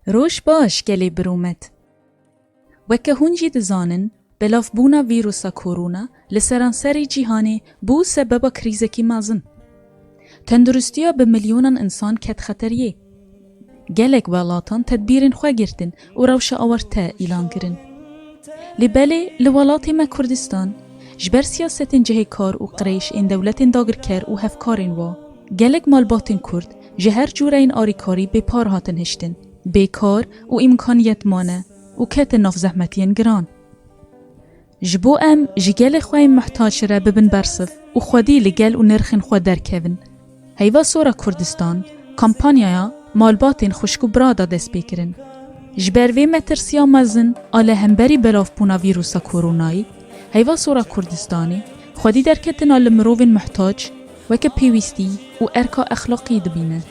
Roj baş gelê birûmet. Weke hûn jî dizanin belavbûna vîrûsa korona li seranserê cîhanê bû sebeba krîzekî mezin. Tenduristiya bi milyonan insan ket xeteriyê. Gelek welatan tedbîrên xwe girtin û rewşa awarte îlan kirin. Lê belê li welatê me Kurdistan ji ber siyasetên cihêkar û qirêj ên dewletên dagirker û hevkarên wa gelek malbatên Kurd Ji her cûreyên alîkarî bê par hatin hiştin, bê kar û îmkaniyet mane û ketin nav zehmetiyên giran. Ji bo em ji gelê xwe yên muhtaç re bibin bersiv û xwedî li gel û nirxên xwe derkevin, heyva Sora Kurdistan kampanyaya malbatên xwişk û bira da destpêkirin. Ji ber vê metirsiya mezin a li hemberî belavbûna vîrûsa koronayî, heyva Sora Kurdistanê xwedî derketina li mirovên muhtaç, weke pêwîstî û erka exlaqî dibîne.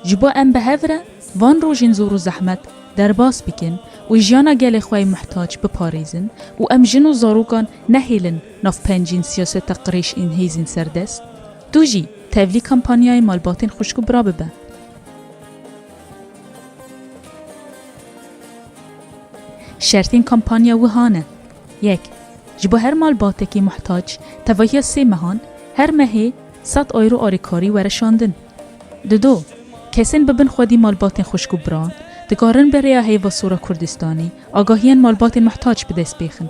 Ji bo em bi hev re van rojên zor û zehmet derbas bikin û jiyana gelê xwe yê muhtac biparêzin û em jin û zarokan nehêlin navpencên siyaseta qirêj ên hêzên serdest, tu jî tevlî kampanyayê malbatên xwişk û bira bibe. Şertên kampanya wiha ne. Yek, Ji bo her malbatekî muhtac tevahiya sê mehan her mehê sed euro alîkarî were şandin. Di do, Kesên bi bin xwedî malbatên xwişk û biran dikarin bi rêya Heyva Sora Kurdistanê agahiyên malbatên muhtac bi dest bêxin.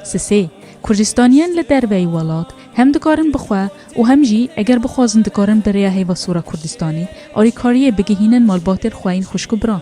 Sisê, Kurdistaniyên li derveyî welat hem dikarin bi xwe û hem jî eger bixwazin dikarin bi rêya Heyva Sora Kurdistanê alîkariyê bigihînin malbatên xwe yên xwişk û biran.